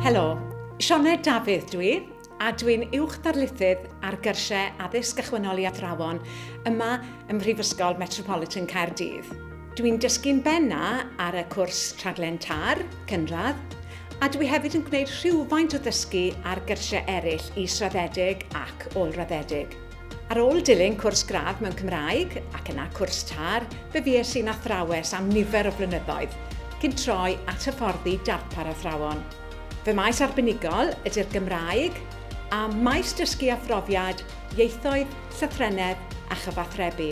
Helo, Sioned Dafydd dw i, a dw i'n Uwch Ddarlithydd ar Gyrsiau Addysg Gychwynnol i Athrawon yma ym Mhrifysgol Metropolitan Caerdydd. Dw i'n dysgu'n benna ar y cwrs Rhaglen TAR, Cynradd, a dw i hefyd yn gwneud rhywfaint o ddysgu ar gyrsiau eraill israddedig ac ôl-raddedig. Ar ôl dilyn cwrs gradd mewn Cymraeg, ac yna cwrs TAR, fe fues i'n athrawes am nifer o flynyddoedd, cyn troi at hyfforddi darpar athrawon. Fy maes arbenigol ydy'r Gymraeg, a maes dysgu a phrofiad, ieithoedd, llythrennedd a chyfathrebu.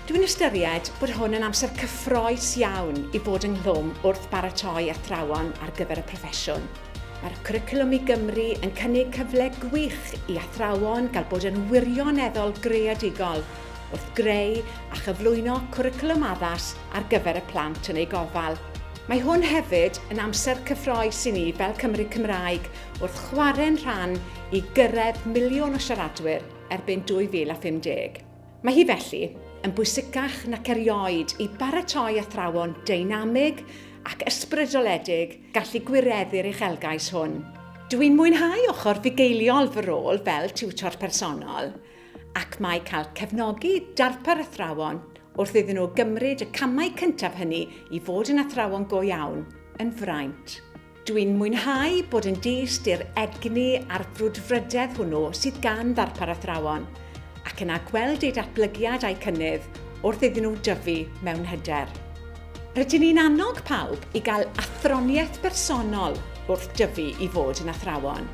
Dwi'n ystyried bod hwn yn amser cyffroes iawn i fod ynghlwm wrth baratoi athrawon ar gyfer y proffesiwn. Mae'r Cwricwlwm i Gymru yn cynnig cyfle gwych i athrawon gael bod yn wirioneddol greadigol wrth greu a chyflwyno cwricwlwm addas ar gyfer y plant yn eu gofal. Mae hwn hefyd yn amser cyffroes i ni fel Cymry Cymraeg wrth chwarae'n rhan i gyrraedd miliwn o siaradwyr erbyn 2050. Mae hi felly yn bwysicach nac erioed i baratoi athrawon deinamig ac ysbrydoledig gallu gwireddu'r uchelgais hwn. Dw i'n mwynhau ochr fugeiliol fy rôl fel tiwtor personol ac mae cael cefnogi darpar athrawon wrth iddyn nhw gymryd y camau cyntaf hynny i fod yn athrawon go iawn yn fraint. Dw i'n mwynhau bod yn dyst i'r egni a'r frwdfrydedd hwnnw sydd gan ddarpar athrawon ac yna gweld eu datblygiad a'u cynnydd wrth iddyn nhw dyfu mewn hyder. Rydyn ni'n annog pawb i gael athroniaeth bersonol wrth dyfu i fod yn athrawon.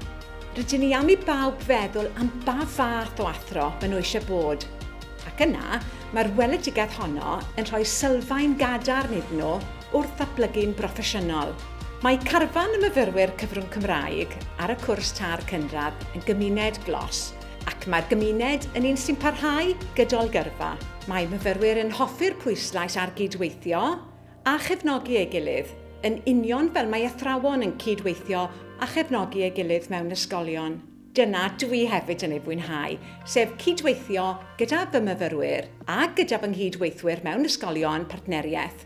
Rydyn ni am i bawb feddwl am ba fath o athro maen nhw eisiau bod. Ac yna, mae'r weledigaeth honno yn rhoi sylfaen gadarn iddyn nhw wrth ddatblygu'n broffesiynol. Mae carfan y myfyrwyr cyfrwng Cymraeg ar y cwrs târ cynradd yn gymuned glos Ac mae'r gymuned yn un sy'n parhau gydol gyrfa. Mae myfyrwyr yn hoffi'r pwyslais ar gyd-weithio a chefnogi ei gilydd, yn union fel mae athrawon yn cyd-weithio a chefnogi ei gilydd mewn ysgolion. Dyna dwi hefyd yn ei fwynhau, sef cyd-weithio gyda fy myfyrwyr a gyda fy nghyd-weithwyr mewn ysgolion partneriaeth.